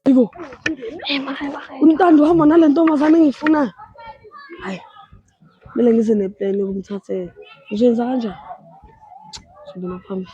Aybo. Umntando uhamba nale ntombazane engiyifuna. Hayi. Kumele ngize neplan yokumthathela. Ngizoyenza kanjani? Sibona phambili.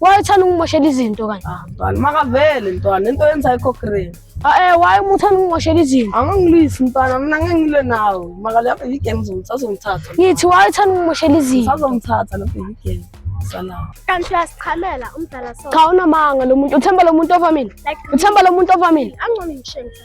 wayethanda ukungimoshela izinto kanje ah, mntwana makavele mntwana into yenza ikho green ae ah, waye umuthanda ukungimoshela izinto angangilwisi mntwana mina ngengilwe nawo makale apha igame zomsazomthatha ngithi wayethanda ukungimoshela izinto sazomthatha lapha igame salawo kanti uyasichamela umdala so cha unamanga lo muntu uthemba lo muntu ovamile uthemba lo muntu ovamile angcono ngishengisa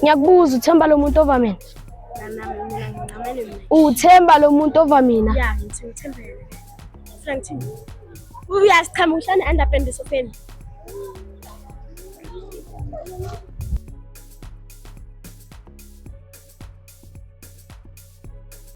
Ngiyakubuza uthemba lo muntu ova mina. Uthemba lo muntu ova mina. Ya, ngithi uthemba yena. Frank Thini. Uyasichama uhlane underpant esofeni.